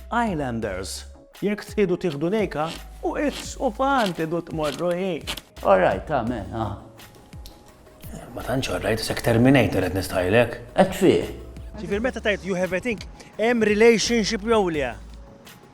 Islanders, jekk tridu tieħdu lejka, u it's u fan tridu tmorru hi. All right, ta' me, ah. Ma tantx all right, sek terminator qed nistajlek. Qed fih. Ġifier meta tajt you have a think, hemm relationship jew le?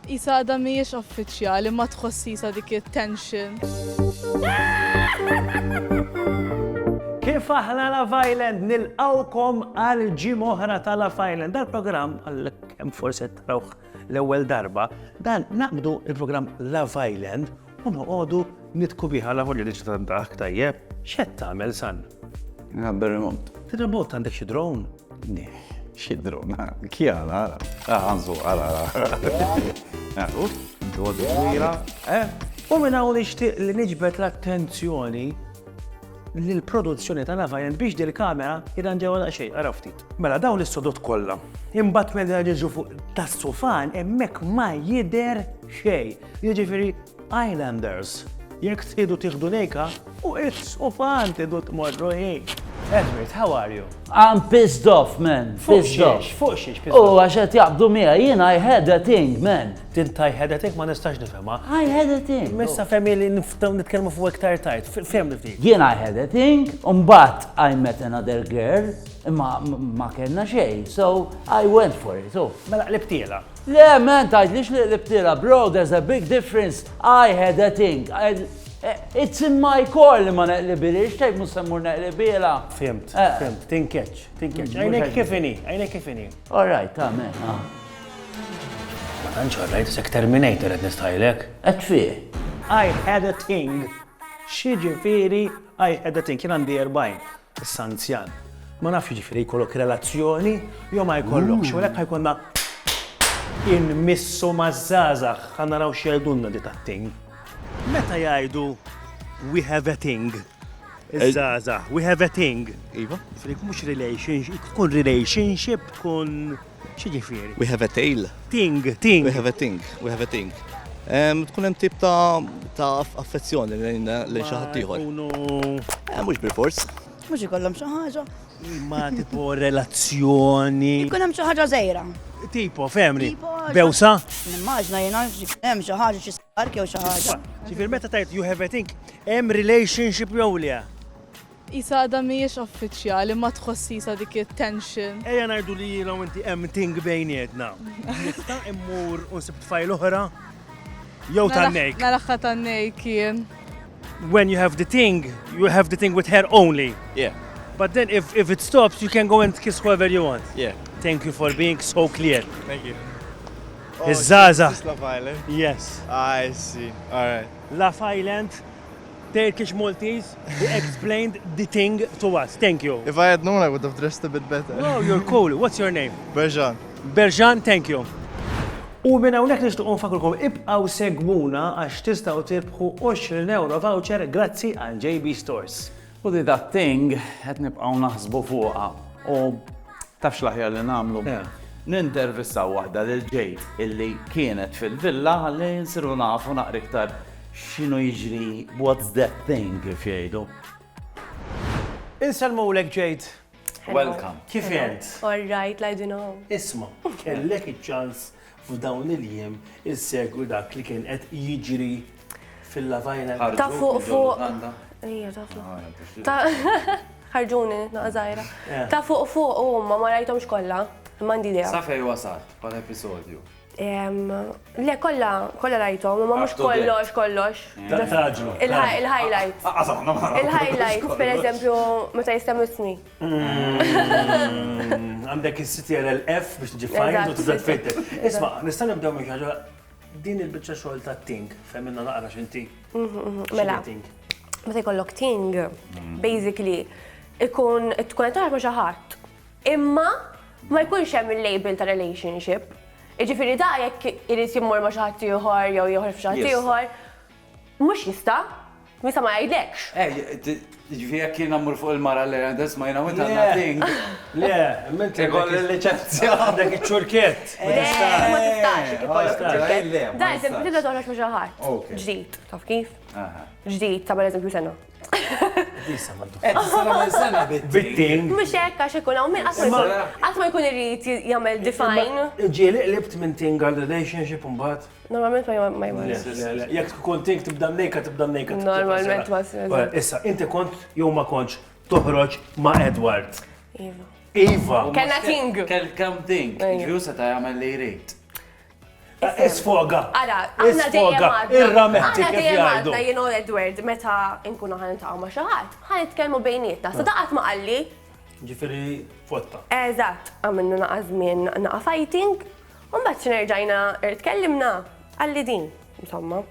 Isa għadha mhijiex uffiċjali ma tħossi sa dik it-tension. Kif aħna la Island nilqawkom għal ġim oħra ta' la Island. Dal-programm għal Kemm forsi qed tarawh l-ewwel darba, dan naqbdu il-programm Love Island u noqogħdu nitku biha la volja li ġiet dak tajjeb. X'qed tagħmel san? Nħabber remot. Remot għandek xi drone? Neh, xi drone. Kjala, għanżu, għala, għala. Dodi kbira, eh? U minn hawn nixtieq li niġbed l-attenzjoni l-produzzjoni ta' Love Island biex dil-kamera jidan ġewwa daqsxejn, għarafti. Mela dawn is-sodod kollha. Imbagħad meta niġu fuq tas-sufan hemmhekk ma jidher xejn. Jiġifieri Islanders, jekk tridu tieħdu lejka, u is-sufan tidu tmorru hi. Edward, how are you? I'm pissed off, man. Fuq xiex, fuq xiex. U għax qed jaqbdu miegħi, jien I had a thing, man. Tint I had a thing ma nistax nifhimha. I had a thing. Missa fehmi li nitkellmu fuq iktar tajt, fehmni ftit. Jien I had a thing, u mbagħad I met another girl. Imma ma kellna xejn, so I went for it, oh. Mela qlibtiela. Le, man, tgħidlix li qlibtiela, bro, there's a big difference. I had a thing. Eh, it's in my core li ma neqlibilix, tgħid mhux se mmur neqlibiela. Fimt, eh. fimt, tinkeċ, tinkeċ. Mm, għajnek kif inhi, għajnek kif inhi. All right, amen. Ah. Ma tantx għarrajt, sek Terminator qed nistajlek. Qed fih. I had a thing. Xi ġifieri I had a thing, kien għandi 40. Issa anzjan. Ma nafx jiġifieri jkollok relazzjoni jew ma jkollokx, u għalhekk ħajkonna inmissu maż-żgħażagħ ħa naraw x'jgħidulna di tat-ting. Meta jgħidu we have a ting? Iż-żgħażagħ, we have a ting. Iva. Frik mhux relationship, tkun relationship, tkun X'jiġifieri? We have a tail. Ting, ting. We have a ting, we have a ting. Tkun hemm tip ta' affezzjoni lejn xi ħadd ieħor. Eh, mhux bil-fors. Mhux ikollhom xi ħaġa. Ma tipo relazzjoni. Ikun hemm xi ħaġa żejra. Tipo, femri. Bewsa? Nimmaġna jena hemm xi ħaġa xi spark jew xi ħaġa. Ġifier meta tajt you have a think, hemm relationship jew le. Qisha għadha mhijiex uffiċjali, ma tħoss qisha dik it-tension. Ejja ngħidu li jiena u inti hemm ting bejnietna. Nista' immur u nsib tfajl oħra? Jew tan-nejk? Mela ħa tan-nejk jien. When you have the ting, you have the ting with her only. Yeah. But then if, if it stops, you can go and kiss whoever you want. Yeah. Thank you for being so clear. Thank you. Oh, Zaza. Love Island? Yes. I see. All right. Love Island Turkish Maltese who explained the thing to us. Thank you. If I had known I would have dressed a bit better. No, you're cool. What's your name? Berjan. Berjan, thank you. U minn hawnhekk nixtiequ nfakkurkom ibqgħu segwuna għax tistgħu tirbħu 20 ewro voucher grazzi għal JB Stores. U di that thing qed nibqgħu naħsbu fuqha u taf x'l-aħjar li nagħmlu. Nintervistaw waħda lil Jade illi kienet fil-villa ħalli nsiru nafu naqra iktar X'inhu jiġri, what's that thing kif jgħidu? Insellmulek Jade. Welcome. Kif int? All right, like you know. Isma, kellek iċ-ċans f'dawn il-jiem insegwi dak li kien qed jiġri fil-lavajna. Ta' fuq fuq. Ija, ta' fuq. Ħarġuni, naqżajra. Ta' fuq fuq, u ma ma rajtomx kollha. Mandi idea. Safej wasalt, pal episodju. Le, kolla, kolla rajtom, ma mux kollox, kollox. Il-highlight. Il-highlight, per eżempju, meta jistem ismi. Għandek il-CTR LF biex tġi fajn, u tibda tfitter. Isma, nistan nibdew minn ħagġa, din il-bicċa xogħol ta' ting, femminna naqra xinti. Mela, meta jkollok ting, basically, ikun tkun tarfa xaħat. Imma ma jkunx hemm il-label ta' relationship. Jiġifieri da jekk irid jimmur ma' xi ħadd ieħor jew jieħor f'xi ħadd ieħor, mhux jista', jista' ma jgħidlekx. Jiġifieri jekk jiena mmur fuq il-mara le, that's my now it has nothing. Le, imma inti ikolli l-liċenzja. Għandek iċ-ċurkett. Le, ma tistax jekk ikollok iċ-ċurkett. Da eżempju tibda toħroġ ma' xi ħadd ġdid, taf kif? Ġdid ta' pereżempju sena. Bittin. Mux hekk għax ikun hawn min qatt ma jkun irid jagħmel define. Ġieli qlibt minn thing għal relationship imbagħad? Normalment ma jmorrux. Jekk tkun thing tibda mnejka tibda mnejka. Normalment ma ssir. Issa, inti kont jew ma kontx toħroġ ma' Edward? Iva. Iva! Kellna thing. Kelkom thing. Ġifieri hu seta' jagħmel li jrid. Isfoga. Ara, aħna dejjem għadna. Irrametti kif jgħidu. Aħna dejjem għadna jien u Edward meta nkunu ħan nitaqgħu ma' xi ħadd, ħan nitkellmu bejnietna. Sa daqat ma qalli. Ġifieri fotta. Eżatt, għamilna naqa' żmien naqa' fighting, u mbagħad xi nerġajna tkellimna qalli din, insomma.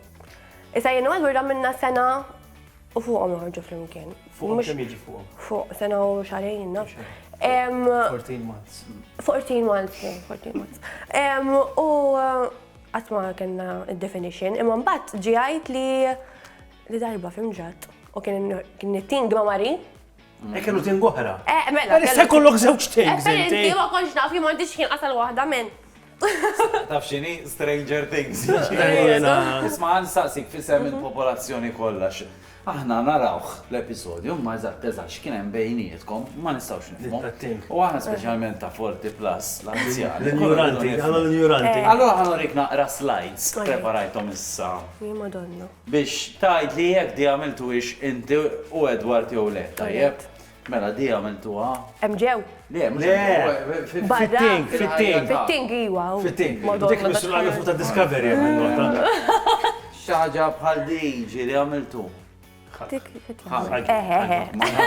Issa jien u Edward għamilna sena U fuqhom joħorġu flimkien. Fuqhom kemm jiġi fuqhom? Fuq sena u xarejn, naf. 14 months. 14 months, 14 months. U għatma uh, kena il-definition, imma mbagħad ġiħajt li li darba fimġat u kien it-tin għamari Ek kienu ting oħra. Eh, mela. Għalissa mela, kollok żewġ tings. Eh, inti ma konx naf jien m'għandix ħin qasal waħda minn. Taf xini? Stranger Things. Isma' għan saqsik fisem il-popolazzjoni kollha. Aħna narawh l-episodju, ma eżatt eżatt x'kien hemm bejnietkom, ma nistgħux nifhmu. U aħna speċjalment ta' 40 plus l-anzjani. L-ignoranti, għal l-ignoranti. Eh. Allora ħanorik naqra slides preparajthom issa. Madonna. Biex tgħid li jekk di għamiltuhiex inti u Edward jew le, tajjeb? Mela di għamiltuha. Hemm ġew? Le, mhux hemm ġew. Le, fit-ting, fit-ting. Fit-ting, iwa. Fit-ting. Dik missu għal fuq ta' Discovery hemm il-nota. Xi ħaġa bħal di ġieli għamiltu. Dik fit-ting. Eħe, eħe.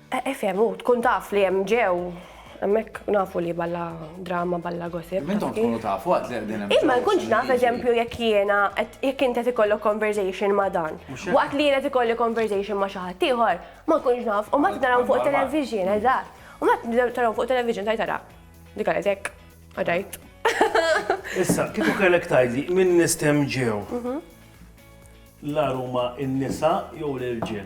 Eh ifhem hu tkun taf li hemm ġew hemmhekk nafu li balla drama balla gossip. Imma intom tkunu tafu għad li qegħdin hemm ġew. Imma nkun naf eżempju jekk jiena jekk int qed ikollok conversation ma' dan. Waqt li jien qed ikolli conversation ma' xi ħadd ieħor ma nkunx naf u mbagħad narawhom fuq it-television eżatt. U mbagħad tarahom fuq it-television tgħid ara dik għamlet hekk u tgħid. Issa kieku kellek tgħidli min nies kemm ġew l-agħar huma n-nisa jew l-irġiel?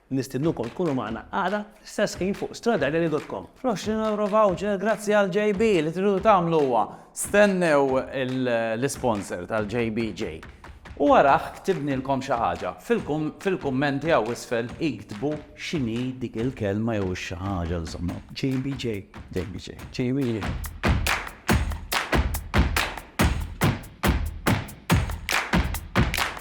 Nistidnukom tkunu magħna għada fl-istess ħin fuq stradalili.com. Fl-€20 voucher grazzi għal JB li tridu tagħmlu huwa stennew l-isponsor tal-JBJ u warah ktibnilkom xi ħaġa. Fil-kummenti hawn isfel iktbu x'inhi dik il-kelma jew ix-xi ħaġa insomma. JBJ. JBJ. JBJ.